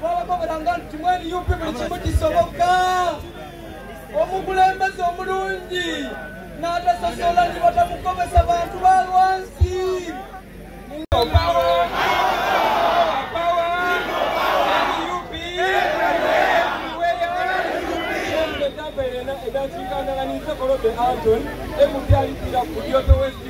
twabagobelanga nti mweri yupi buli kimu kisoboka omukulembeze omulungi n'atasosola nti batamukobesa bantu ba lwansi That's you can, and it's a lot of the Anton. Every day, you know, you have to wait.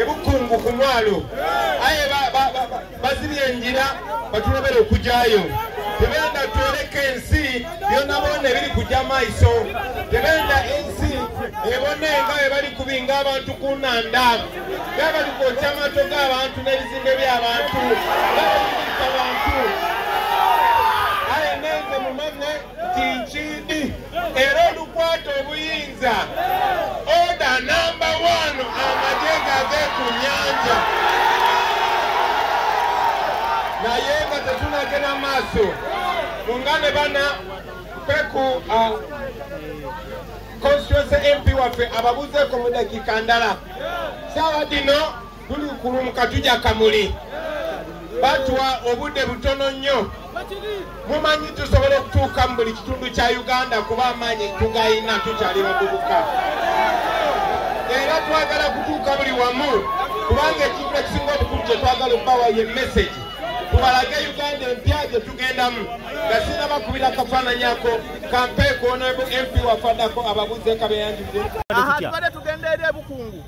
ebukungu ku mwalo aye bazibye enjira batulobera okujayo tebenda twoleka ensi byonabona ebiri kuja maiso tebenda ensi ebone nga webali kubinga abantu ku nanda nga bali kwokya amato g'abantu n'ebizimbe by'abantu nga bali kuita abantu nti nkindi era olukwata obuyinza oda namba wano amagye gave ku nyanja naye nga tetunagenda maaso nga ne bana peku uh, constituency mp waffe ababuzeeko mu dakiika ndala saawa dino Gulukulu mu katuja kamuli batwa obudde butono nnyo mumanyi tusobola okutuuka mu buli kitundu kya uganda kuba amaanyi tugayina tukyali bavubuka era twagala kutuuka buli wamu kubanga ekintu ekisinga obukulu kye twagala okubawa ye mesagi tubalage uganda empya gye tugendamu nga sinabakubira akafaananyako kampeekoono mp wafaddako ababuuze kabeyanjudde aha tubadde tugenda eri ebukungu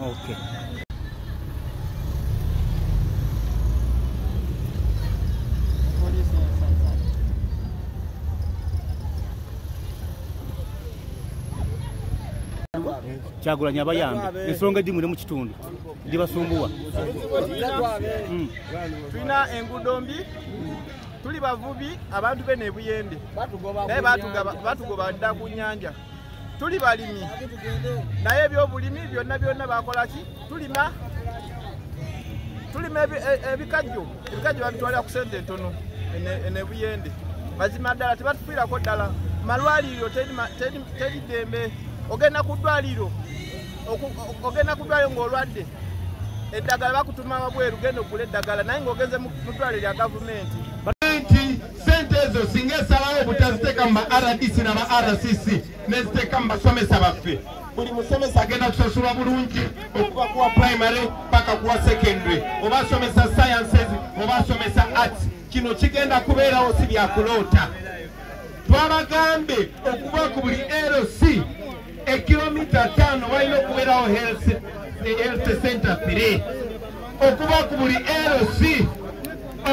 okay. kyagulanyi abayambe ensonga edimu ne mu kitundu ndibasumbuwa hmm. tulina enguudo mbi tuli bavubi abantu be nebuyende naye batugoba dda ku nyanja tuli balimi naye ebyobulimi byonna byonna bakolaki tulima tulima e, ebikajjo ebikajjo babitwalira ku sente entono enebuyende mazima ddala tebatufiirako ddala malwaliro teri ddembe ogenda ku ddwaliro ogenda ku ddwaliro ng'olwadde eddagala bakutuma wabweru genda okula eddagala naye ng'ogenze mu ddwaliro lya gavumenti sente ezo singa esalawo obutaziteeka mu ba rdc na ba rcc neziteeka mu basomesa baffe buli musomesa agenda kusasulwa bulungi okuva kuwa primary paka kuwa secondary oba asomesa sciences oba asomesa arts kino kigenda kubeerawo si byakuloota twabagambye okuva ku buli lc ekilomita tano walina okubeerawo health eh, center fire okuba ku buli lc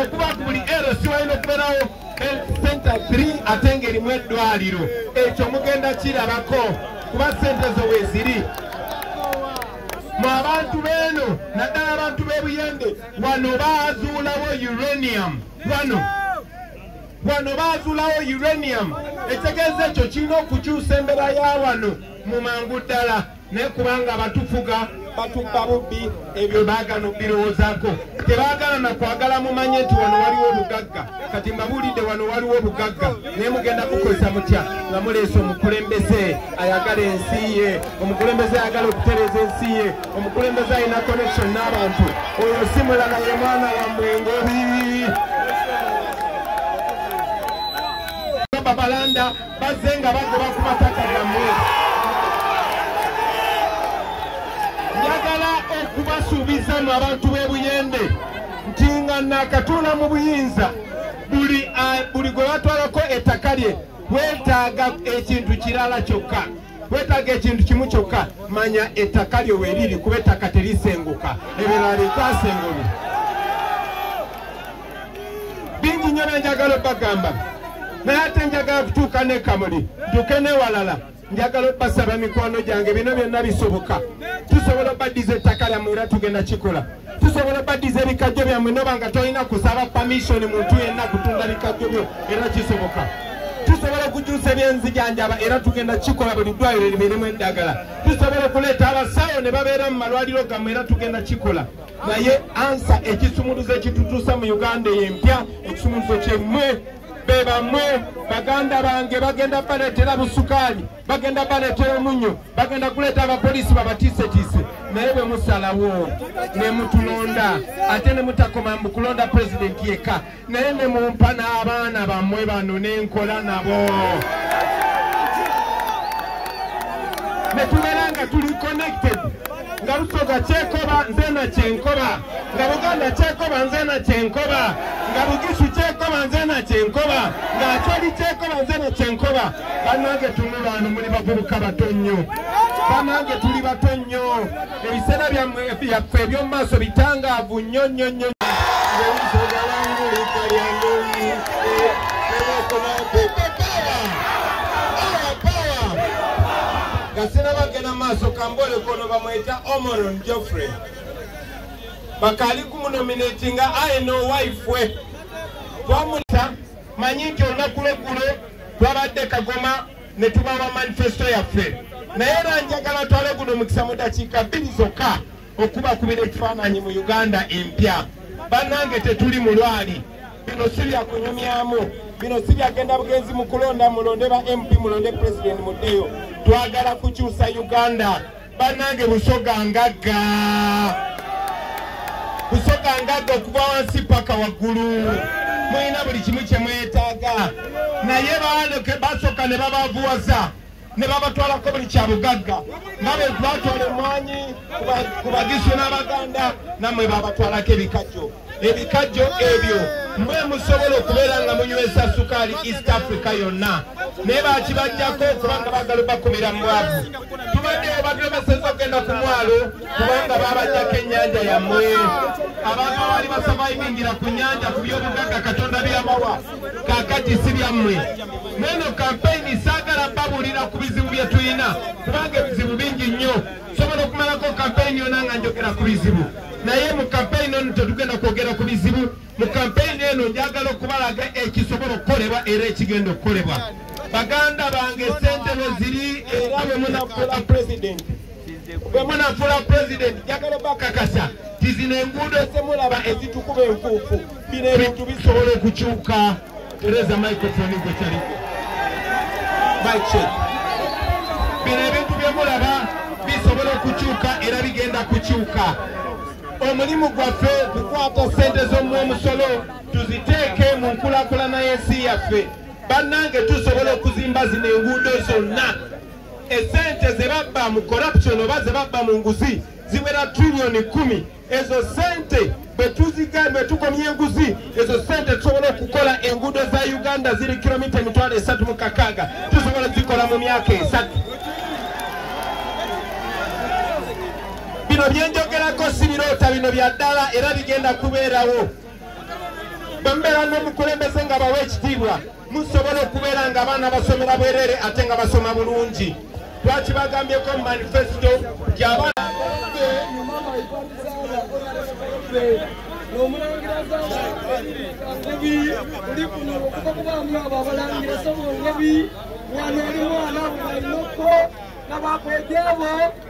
okuba ku buli lc walina okubeerawo health center fire ate ngaerimu eddwaliro ekyo mugenda kirabako kuba sente zo weziri mu abantu beeno naddala abantu b'ebuyende wano baazuulawo uranium wano wano baazulawo uranium etegeeza ekyo kirina okukyusa embera ya wano mu mangu ddala naye kubanga abatufuga batubba bubbi ebyo baagana okubirowoozaako tebaagala na kwagala mumanye nti wano waliwo obugagga kati mbabuulidde wano waliwo obugagga naye mugenda kukozesa mutya nga muleese omukulembeze ayagala ensi ye omukulembeze ayagala okutereeza ensi ye omukulembeze alina connection n'abantu oyo si mulala ye mwana wammwe ngobi babalanda bazze nga bagoba ku mataka gammwe njagala okubasuubiza mu abantu b'e buyende nti nga naakatuula mu buyinza buli gwe batwalako ettaka lye weetaaga ekintu kirala kyokka wetaaga ekintu kimu kyokka manya ettaka lyo weriri kuba ettaka terisenguka ebirala litasengulwa bingi nnyo byenjagala obagamba naye ate njagala kutuuka nekamuli ntuke newalala njagala obasaba mikwano gyange bino byonna bisoboka tusobola obaddiza ettaka lyamu era tugenda kikola tusobola obaddiza ebikajjo byammwe noba nga tolina kusaba pamishoni muntu yenna kutunda bikajjo byo era kisoboka tusobola okukyusa ebyenzijanjaba era tugenda kikola buli ddwaliro libeeremu eddagala tusobola okuleeta abasawo ne babeera mu malwaliro gammwe era tugenda kikola naye ansa ekisumuluzo ekitutuusa mu uganda eyo empya ekisumuluzo kyemmwe be bamwe baganda bange bagenda baletera busukaali bagenda baleetera omunnyo bagenda kuleeta abapoliisi babatiisetiise naye bwe musalawo ne mutulonda ate ne mutakoma mu kulonda pulezidenti yekka naye ne mumpa n'abaana bammwe bano ne nkola nabo ne tubeera nga tuli connected nga lusoga kyekoba nze na kyenkoba nga buganda kyekoba nze na kyenkoba nga bugisu kyekoba nze na kyenkoba nga acoli kyekoba nze na kyenkoba banange tumu baano muli bavubuka bato nnyo banange tuli bato nnyo ebiseera byaffe eby'omu maaso bitangaavu nnyo nnyo nnyo gasinabagenda maaso kambole kono bamweta omoron joffrey bakali kumunominatinga aye nowaifwe twamulita manyi nti olunaku lweggulo twabadde kagoma ne tubawa manifesito yaffe naye era njagala twale guno omukisa mu dakiika bbiri zokka okubakubira ekifaananyi mu uganda empya bannange tetuli mulwali bino si byakunyumyamu bino si byagenda bugenzi mu kulonda mulonde ba mp mulonde pulezidenti muddeyo twagala kukyusa uganda banange busoga ngagga busoga ngagga okuva wansi paka waggulu mulina buli kimu kyemwetaaga naye basoka ne babavuwaza ne babatwalako buli kya bugagga nga bwe batwala emwanyi ku bagisu n'abaganda namwe babatwalako ebikajjo ebikajjo ebyo mwe musobola okubeera nga munywesa sukaali east africa yonna naye bakibajjako kubanga bagala bakumira mu bwavu tubadde babalemeseza okugenda ku mwalo kubanga babajjako ennyanja yammwe abantu abaali basavaivingira ku nyanja ku byobugagga katonda byamawa kakati si byammwe neno kampeyini saagala babuulira ku bizibu bye tulina kubanga ebizibu bingi nnyo sobola okumalako kampeyini yona nga njogera ku bizibu naye mu kampeyini eno tetugenda kwogera ku bizibu mu kampeyini eno njagala okubalaga ekisobola okukolebwa era ekigenda okukolebwa baganda bange sente weziri era bwemunafula pulezidenti bwemunafula pulezidenti njagala bakakasa tizino enguudo zemulaba ezitukuba enfuufu bino ebintu bisobola okukyuka Tereza microphone gwe kyali. Mic check. Bino ebintu bye mulaba bisobola okukyuka era bigenda kukyuka. Omulimu gwaffe kukwata ssente z'omu omusolo tuziteeke mu nkulakulana y'ensi yaffe. Bannange tusobola okuzimba zino enguudo zonna. Essente ze babba mu corruption oba ze babba mu nguzi ziwera trillioni kumi. ezo sente bwetuziga bwetukomya enguzi ezo sente tusobola okukola enguudo za uganda ziri kilomita emitwalo esatu mu kakaaga tusobola zikola mu myaka esatu bino byenjogerako si biroota bino bya ddala era bigenda kubeerawo bwe mubeera n'omukulembeze nga bawa ekitiibwa musobola okubeera nga abaana basomera bwerere ate nga basoma bulungi twakibagambyeko mu manifesito gyabaana omulangira zangabi ndi kuno okuva kubaamu abo abalangira somu ngabi wano oli mwana alina okko nabakwejabo